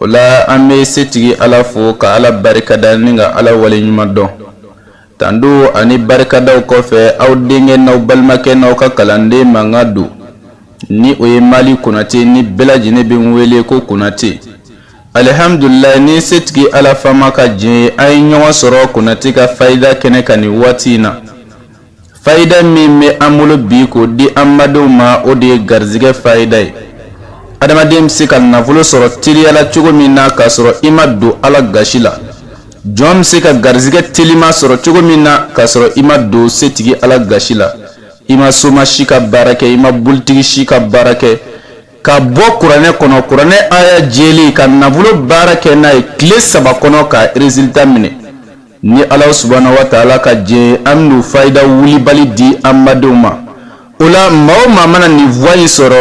o la an bɛ setigi ala fo ka ala barikada ni ka ala wale ɲuman dɔn tando ani barikadaw kɔfɛ aw denkɛ n'aw balimakɛ n'aw ka kalanden mankan don ni o ye mali konatɛ ni bɛɛ lajɛlen bɛ n wele ko konatɛ alihamdulila ni setigi ala faama ka jɛn ye an ye ɲɔgɔn sɔrɔ konatɛ ka fayida kɛnɛ kan nin waati in na Fayida min bɛ an bolo bi k'o di an badenw ma o de ye garisɛgɛ fayida ye adamaden bɛ se ka nafolo sɔrɔ teliya la cogo min na k'a sɔrɔ i ma don ala gasi la jɔn bɛ se ka garisɛgɛ telima sɔrɔ cogo min na k'a sɔrɔ i ma don setigi ala gasi la i ma soma si ka baara kɛ i ma bolitigi si ka baara kɛ ka bɔ kuranɛ kɔnɔ kuranɛ aya jɛli ka nafolo baara kɛ n'a ye tile saba kɔnɔ ka rezilita minɛ ni ala subhana wa taala ka jɛn an bɛna fayida wulibali di an badenw ma o la maa o maa mana nin voix in sɔrɔ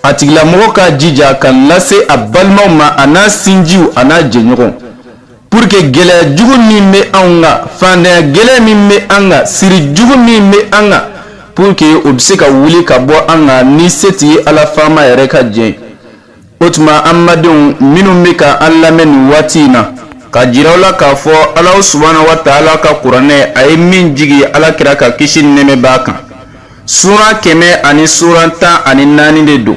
a tigilamɔgɔ k'a jija k'a lase a balimaw ma a n'a sinjiw a n'a jɛɲɔgɔn pour que gɛlɛya jugu min bɛ anw kan fantanya gɛlɛya min bɛ an kan siri jugu min bɛ an kan pour que o bɛ se ka wuli ka bɔ an kan ni setigi ala faama yɛrɛ ka jɛn o tuma an badenw minnu bɛ ka an lamɛn nin waati in na k'a jira aw la k'a fɔ ala subhana wa taala ka kuranɛ a ye min jigin ala kira kan kisi nɛmɛ b'a kan suura kɛmɛ ani suura tan ani naani de don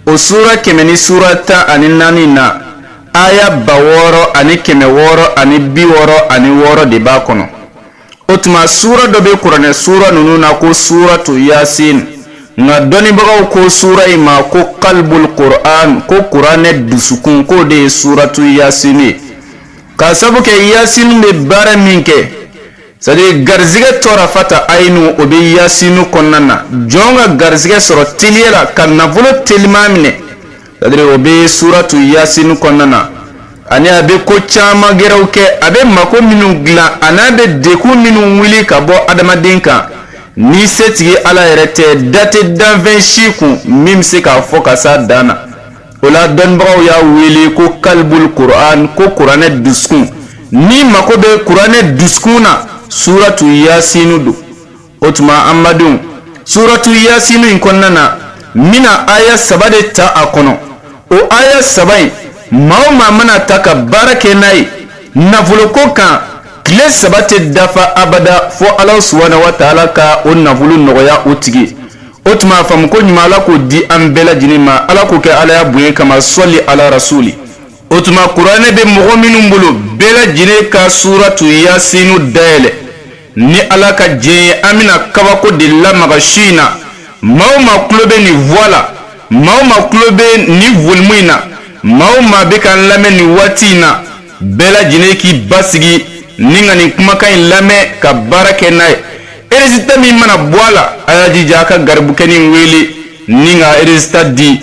o suura kɛmɛ ni suura tan ani naani na aya ba wɔɔrɔ ani kɛmɛ wɔɔrɔ ani bi wɔɔrɔ ani wɔɔrɔ de b'a kɔnɔ o tuma suura dɔ bɛ kuranɛ suura ninnu na ko suratu yasin nka dɔnnibagaw ko suura in ma ko kalibul kuran ko kuranɛ dusukun k'o de ye suratu yasin ye k'a sabu kɛ yasin bɛ baara min kɛ sadi garizigɛ tɔrafata ayinu o bɛ yasinu kɔnɔna na jɔn ka garizigɛ sɔrɔ teliya la ka nafolo telima minɛ sadiri o bɛ suratu yasini kɔnɔna na ani a bɛ ko caman gɛrɛw kɛ a bɛ mako minnu dilan a n'a bɛ degun minnu wuli ka bɔ adamaden kan ni setigi ala yɛrɛ tɛ da tɛ danfɛn si kun min bɛ se k'a fɔ ka s'a dan na o la dɔnnibagaw y'a wele ko kalibul kuran ko kuranɛ dusukun n'i mako bɛ kuranɛ dusukun na suratu yasini don o tuma an badenw suratu yasini in kɔnɔna na n bɛna aya saba de ta a kɔnɔ o aya saba in maa o maa mana a ta ka baara kɛ n'a ye nafoloko kan tile saba tɛ dafa abada fo ala subhana wa taala ka o nafolo nɔgɔya o tigi o tuma a faamu koɲuman ala k'o di an bɛɛ lajɛlen ma ala k'o kɛ alaya bonya kama sɔli ala rasuli o tuma kuranɛ bɛ mɔgɔ minnu bolo bɛɛ lajɛlen ka suratu yasini dayɛlɛ Ni ala ka diɲɛ ye an bɛna kabako de lamaga su in na maa o maa tulo bɛ nin vwa la maa o maa tulo bɛ nin volumu in na maa o maa bɛ k'an lamɛn nin waati in na bɛɛ lajɛlen k'i basigi ni ka nin kumakan in lamɛn ka baara kɛ n'a ye erezilita min mana bɔ a la a y'a jija a ka garibukɛnin wele ni ka erezilita di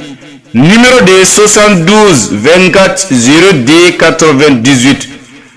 nimɔrɔ de ye swasanti duzi vɛnti katiri zero de katiri vɛn dizuwiti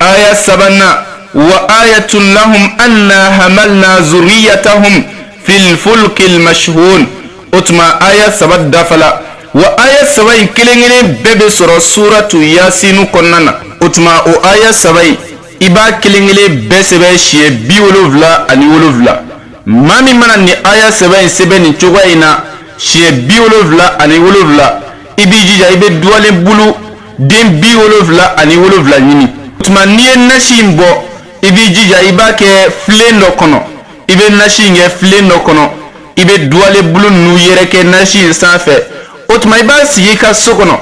aya sabanan wa ayatun lahum anna hamalna zuriyatahum fil fulkil mashhun o tuma aya saba dafala wa aya saba in kelen kelen bɛɛ bɛ sɔrɔ suratu yasinu kɔnɔna na o tuma o aya saba in i b'a kelen kelen bɛɛ sɛbɛn siɲɛ bi wolonfila ani wolonfila maa min mana nin aya saba in sɛbɛn nin cogoya in na siɲɛ bi wolonfila ani wolonfila i b'i jija i bɛ duwalen bulu den bi wolonfila ani wolonfila ɲini o tuma n'i ye nasi in bɔ i b'i jija i b'a kɛ filen dɔ kɔnɔ i bɛ nasi in kɛ filen dɔ kɔnɔ i bɛ duwalen bulu ninnu yɛrɛkɛ nasi in sanfɛ o tuma i b'a sigi i ka so kɔnɔ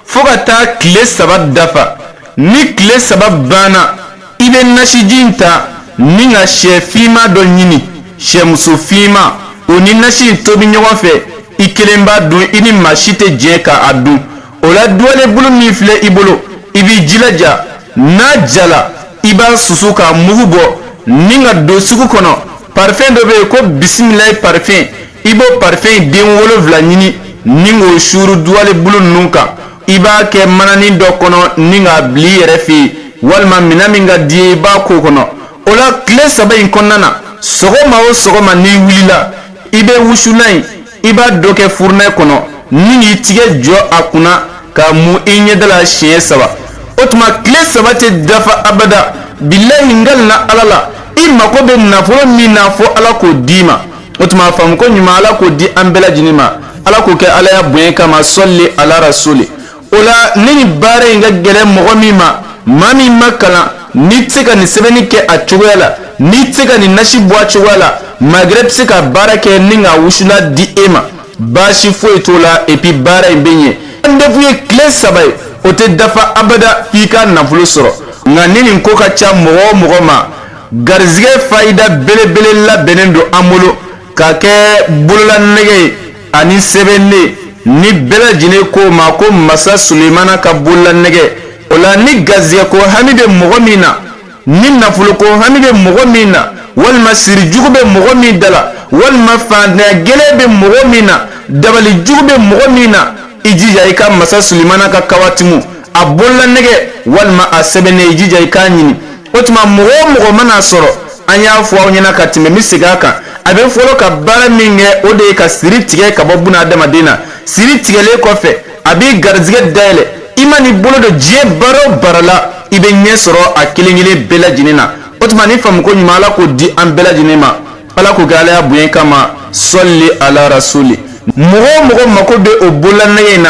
fo ka taa tile saba dafa ni tile saba banna i bɛ nasiji in ta ni ka shɛ finman dɔ ɲini shɛmuso finman o ni nasi in tobi ɲɔgɔn fɛ i kelen b'a dun i ni maa si tɛ jɛ ka a dun o la duwalenbulu min filɛ i bolo i b'i jilaja n'a jala i b'a susu k'a mugu bɔ ni ka don sugu kɔnɔ parifɛn dɔ bɛ yen ko bisimilayi parifɛn i b'o parifɛn in den wolonfila ɲini ni k'o suuru duwalenbulu ninnu kan i b'a kɛ mananin dɔ kɔnɔ ni k'a bil'i yɛrɛ fɛ yen walima minɛn min ka di i ye i b'a k'o kɔnɔ o la tile saba in kɔnɔna na sɔgɔma o sɔgɔma n'i wilila i bɛ wusulan in i b'a dɔ kɛ furunɛ kɔnɔ ni k'i tigɛ jɔ a kunna k'a mun i ɲɛda la siɲɛ saba o tuma tile saba tɛ dafa abada bilayi n kalilen ala la i mago bɛ nafolo min na fo ala k'o d'i ma o tuma a faamu koɲuman ala k'o di an bɛɛ lajɛlen ma ala k'o kɛ alaya bonya kama sali ala rasuli o la ni nin baara in ka gɛlɛn mɔgɔ min ma maa min ma kalan n'i tɛ se ka nin sɛbɛnni kɛ a cogoya la n'i tɛ se ka nin nasi bɔ a cogoya la magɛrɛ bɛ se ka baara kɛ ni ka wusulan di e ma baasi foyi t'o la epi baara in bɛ ɲɛ an defu ye tile saba ye o tɛ dafa abada f'i ka nafolo sɔrɔ nka ni nin ko ka ca mɔgɔ o mɔgɔ ma garijɛgɛ fayida belebele labɛnnen don an bolo k'a kɛ bololanɛgɛ ye ani sɛbɛnnen nin bɛɛ lajɛlen k'o ma ko masa sulemana ka bololanɛgɛ o la ni garisɛgɛ ko hami bɛ mɔgɔ min na ni nafolo ko hami bɛ mɔgɔ min na walima sirijugu bɛ mɔgɔ min da la walima faantanya gɛlɛn bɛ mɔgɔ min na dabalijugu bɛ mɔgɔ min na i jija i ka masa sulemana ka kawatimu a bololanɛgɛ walima a sɛbɛnnen i jija i k'a ɲini o tuma mɔgɔ o mɔgɔ man'a sɔrɔ an y'a fɔ aw ɲɛna ka tɛmɛ n bɛ segin a kan a bɛ fɔlɔ ka baara min kɛ o de ye ka siri tigɛ ka bɔ buna adamaden na siri tigɛlen kɔfɛ a b'i garijɛgɛ dayɛlɛ i man'i bolo don diɲɛ baara o baara la i bɛ ɲɛ sɔrɔ a kelen kelen bɛɛ lajɛlen na o tuma ni faamuko ɲuman ala k'o di an bɛɛ lajɛlen ma ala k'o kɛ ala ya bonya kama sali ala rasuli mɔgɔ o mɔgɔ mako bɛ o bololanɛgɛ in na